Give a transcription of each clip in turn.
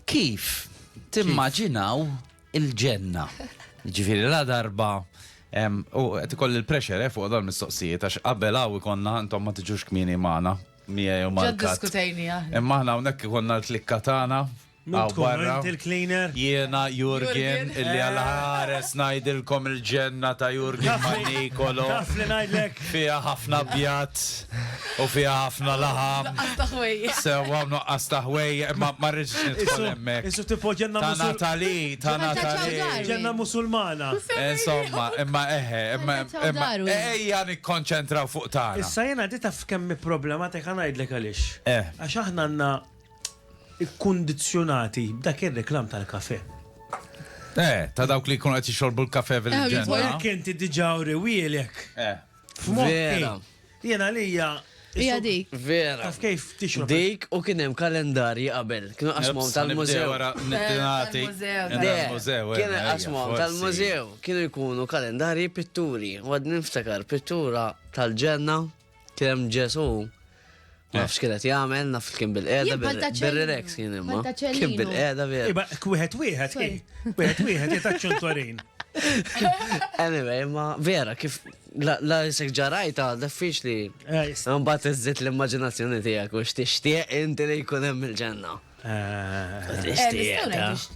Kif timmaġinaw il-ġenna? Ġifieri la darba u qed ikoll il-pressure eh, fuq dal-mistoqsijiet għax qabel hawn ikonna intom ma tiġux kmieni magħna miegħi u mal Imma aħna hawnhekk ikonna l-klikka tagħna Barra, il-cleaner. Jena Jurgen, illi għal ħares najdilkom il-ġenna ta' Jurgen ma' Nikolo. Taf li najdlek. Fija ħafna bjat. U fiha ħafna laħam. Nuqqas ta' ħwejjeq. Sewwa u nuqqas ta' ħwejjeq, imma ma rridx nidħol hemmhekk. Isu tipo ġenna Ta' musul- Natali, ta' Ġenna ta' Natali. Ċawdar. ġenna musulmana. Insomma, imma eħe, imma Ġenna ta' imma Darwin. ejja nikkonċentraw fuq tagħna. Issa jiena di taf kemm hi problematika ngħidlek għaliex. Eh. Għax aħna għandna kkundizzjonati b'dak ir-reklam tal-kafè. Eh, ta' dawk li jkunu qed jixorbu l-kafè Imma fil-ġenna. jekk inti diġà wriwielek. Eh. Vera. Jena lija. Ija dik. Vera. Taf kif tixma. Dik u kienem kalendarji qabel. Kienu qasmom tal-mużew. Tal-mużew. Kienu qasmom tal-mużew. Kienu jkunu kalendarji pitturi. Għad niftakar pittura tal-ġenna kienem ġesu Ma nafx kienet jagħmel, naf kien bil-qeda, bil-relax kien imma. Kien bil-qeda vera. Iba, wieħed wieħed kien. Wieħed wieħed jitaċċu l-torin. Anyway, ma vera, kif la jisek ġarajta, diffiċ li. Eh, Mbatt iżżid l-immaġinazzjoni tijak, u xtixtieq inti li jkun hemm il-ġenna.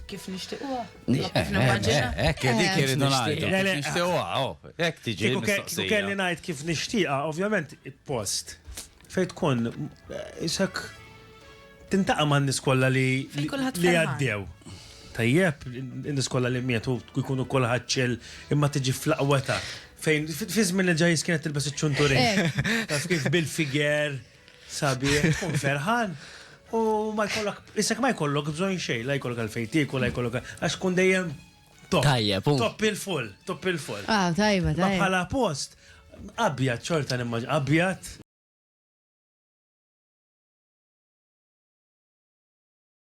Kif nishtiqwa? Kif nimmaġina? Ek, dik irridu najdu. Ek tiġi. Kif kelli najd kif nishtiqa, ovvjament, post. Fejt tkun, isak, tintaqa ma' nis kolla li għaddew. Tajjeb, nis kolla li mietu, kujkunu kolla ħadċel, imma tiġi flaqweta. Fejn, fi żmien il-ġajis kienet tilbes iċ-ċunturin. Kif bil-figer. Sabiħ, tkun ferħan u ma jkollok, isek ma jkollok bżonn xejn, la jkollok għalfejn tiekol, la jkollok għax tkun dejjem top. Tajjeb, u. Top il-full, top il-full. Ah, tajba, tajba. Ma bħala post, abjad ċorta nimmaġ, abjad.